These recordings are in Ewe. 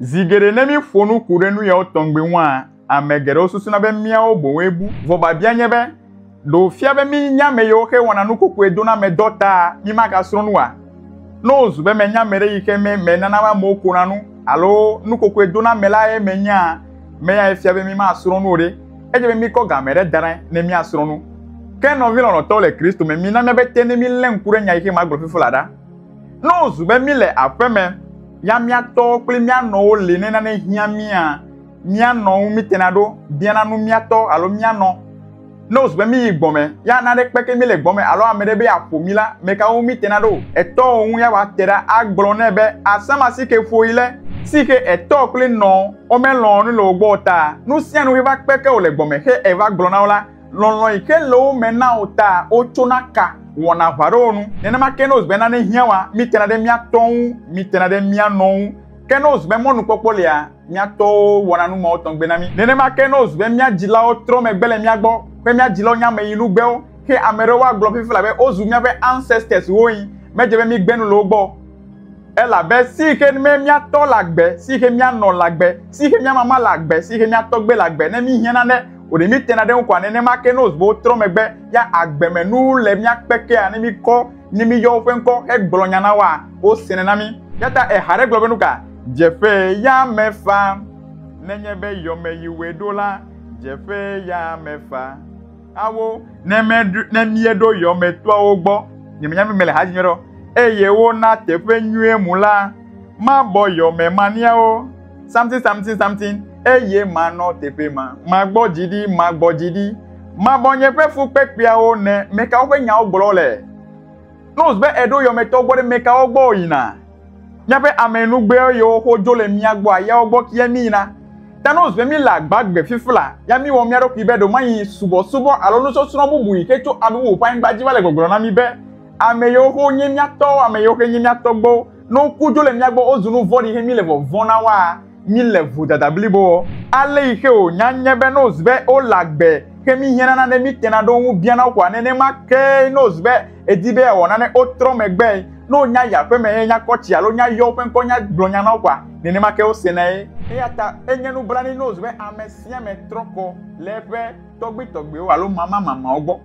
Zi geɖe ne míeƒo nu ku ɖe nu yawo tɔgbi ŋua, ame geɖewo susuna be míawo boŋue bu. Vɔ biabia nye be, Ɖe wòfia be míenya ame yiwo xe wɔna nu kɔkɔe dona me dɔ taa mímagasrɔ̃ nu oa? Ne wòzu be menya ame ɖe yi xe me menana amewo kona nu alo nu kɔkɔe dona me la ye menyaa ame yae fia be mímasrɔ̃ nu o ɖe, edze be míkɔ ga ame ɖe da ɖa ne míasrɔ̃ nu. Ke nɔvi lɔlɔ̃tɔwo le Kristo me, mina míabe te ne mílé ŋku ɖe nya yi xe magblɔ fifi la ɖa. Ne wòzu be míle aƒeme ya mía tɔwo kple mía nɔwo li ne nane hiã mía, mía nɔ ŋu mítena ɖo biana nu mía tɔ alo mía nɔ. Ne wòzu be míyi gbɔme ya nane kpeke mí le gbɔme alo ame ɖe be yeaƒo mí la, meka ŋu mítena ɖo? Etɔwo ŋu ya woate ɖa agblɔ nɛ be, Asã ma si ke ƒoɣi le, si xe etɔ kple nɔ womelɔ̃ nu le wo gbɔ o ta, nu sia nu heva kpeke wò le gbɔme xe eva gblɔ na wo la, Lɔlɔ̃ yi ke le wo me na wò ta wotsona ka wɔna aʋa ɖe wo ŋu. Nenema ke ne wòzu be nane hiã woa, mítena ɖe mía tɔ ŋu, mítena ɖe mía nɔ ŋu. Ke ne wòzu be mɔnukpɔkpɔ lia, mía tɔwo wɔna nu mawo tɔgbe na mí. Nenema ke ne wòzu be mía dzilawo trɔ megbe le mía gbɔ, ke mía dzilawo nye ameyinugbewo, ke ame aɖewo agblɔ vevie labe wozu míaƒe ancestors woe, medze be mígbe nu le wo gbɔ o. Elabe si xe me míatɔ le agbe, si xe míanɔ le agbe, si xe mía mama le agbe, si xe mía tɔgbe le agbe, ne míhiã nane o ɖe míetena ɖe eŋu koa, nenema ke ne wòzu be wotrɔ megbe ya agbemenu le mía kpekea, ne míkɔ, ne míyɔ woƒe ŋkɔ hegblɔ nya na woa, wosene na mí. Eya ta eha aɖe gblɔ be, Nuka dzeƒe ya mefa? Nenye be yɔmeyiwoe ɖo la, dzeƒe ya mefa. Awo ne me ne mieɖo yɔmetɔawo gbɔ nyemenya mi mele ha nyuiɖɔ eye wona teƒe nyuie mu la mabɔ yɔme maniawo something something something eye manɔ teƒe ma magbɔ dzi ɖi magbɔ dzi ɖi mabɔ nye ƒe fukpekpeawo ne mekawo ƒe nyawo gblɔ le nose be eɖo yɔmetɔ gbɔ ɖe mekawo gbɔ yina Míaƒe amɛnugbeɔ yɔwo xo jo le mía gbɔ a yɔwo gbɔ kiɛ mí yi na. Ta nɔ zɔɛ mí le agba gbe fifla, ya mí wɔ mía ɖokui be ɖo ma nyi subɔsubɔ alo nusɔsrɔn bubu yi xe co a bubu ƒe anyigba dzi va le gbɔgblɔ na mí be, Amɛ yɔwo xo nye mía tɔwo, amɛ yɔwo xe nye mía tɔgbewo. Nɔ ŋku jo le mía gbɔ o zu nuvɔɖi xe mí le vɔvɔn na woa? Mí le vodada blibo wɔ. Ale yi xe o nya nye be n'oz be o le agbe xe mí hiã nana ɖe mí tena ɖo ŋu biana wo koa nenema kee n'oz be edi be ya wɔ nane o trɔ megbe e n'o nya yi aƒe me he nya kɔ tsi alo nya yɔ woƒe ŋkɔ nya gblɔ nya na wo koa nenema ke wo sena ye. Eya ta e nye nublanui n'oz be ame sia ame trɔ kɔ le eƒe tɔgbi tɔgbiwo alo mama mamawo gbɔ.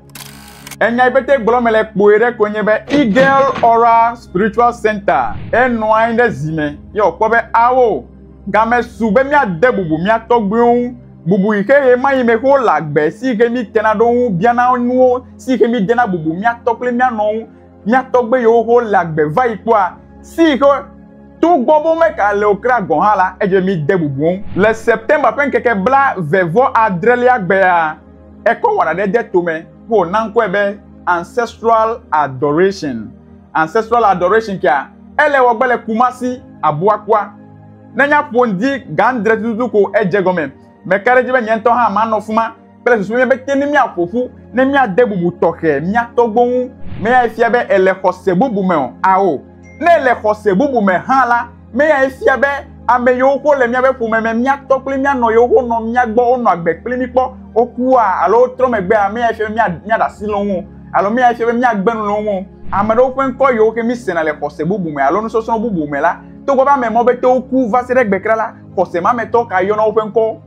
Enya yi pete gblɔm mele kpoe ɖe koe nye be Eagle Aura Spiritual Center enɔ anyi ɖe zi me ye wòkpɔ be ao game su be míade bubu mía tɔgbuiwo ŋu, bubu yi ke ɣemaɣi me ke wole agbe si yi ke mítena ɖe wo ŋu biana nuwo si yi ke mídena bubu mía tɔ kple mía nɔ ŋu. Mía tɔgbe yiwo ke wole agbe va yi kpɔa si yi ke togbɔ be womeka le o kura gɔ̃ hã la, edze be míde bubu wo ŋu. Le September ƒe ŋkeke blaeve vɔ adrelia gbea, Ekɔ wɔna ɖe de tome ƒe wòna ŋkɔe be Ancestral Adoration. Ancestral Adoration kea, ele wɔgbe le Kumasi, Abuakua. Ne nyaƒo ŋdi gãdre tututu ko edze gɔme. Meka ɖe edzi be nye ŋutɔ hã manɔ fuma kple susu nye be te ne míaƒo ƒu ne míade bubu tɔxɛ mía tɔgbuiwo ŋu. Meyae fia be èle xɔse bubu me o? Ao. Ne èle xɔse bubu me hã la, Me yae fia be ame yiwo ko le míaƒe ƒome me, mía tɔ kple mía nɔ yewo ko nɔ mía gbɔ, wonɔ agbe kpli mí kpɔ, wokua alo wotrɔ megbea, ame yae fia be míaɖe asi le wo ŋu alo ame yae fia be míagbe nu le wo ŋu. Ame aɖewo ƒe ŋkɔ yiwo ke mísena le xɔse bubu me alo nusɔsrɔ̃ bubu me la, togbɔ be ame mɔ be te woku va se ɖe egbe kura la, xɔse ma me tɔ kae yɔna woƒe ŋkɔwo?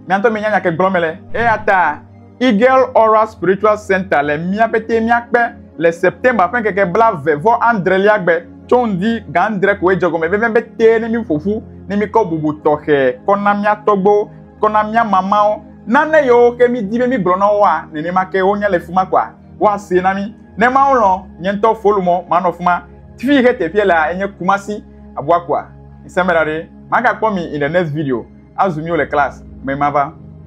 Mia ŋutɔ mienya nya ke gblɔm mele. Eyata Eagle Aura Spiritual Center le mía pete míakpe le September ƒe ŋkeke blave vɔ adrelia gbe tso ŋdi ga adre koe dze gɔme vevie be te ne mí ƒoƒu ne mí kɔ bubu tɔxɛ kɔ na mía tɔgbewo kɔ na mía mamawo nane yewo ke mí di be mí gblɔ na woa nenema ke wo nya le fima kɔa woa see na mí ne mawo lɔ nye ŋutɔ folu mɔ ma nɔ fima tvi yi ke teƒe lea enye kumasi abua kɔa nsɛmɛ ɖaɖe ma ga kpɔ mi in the next video azu mí wo le class me ma va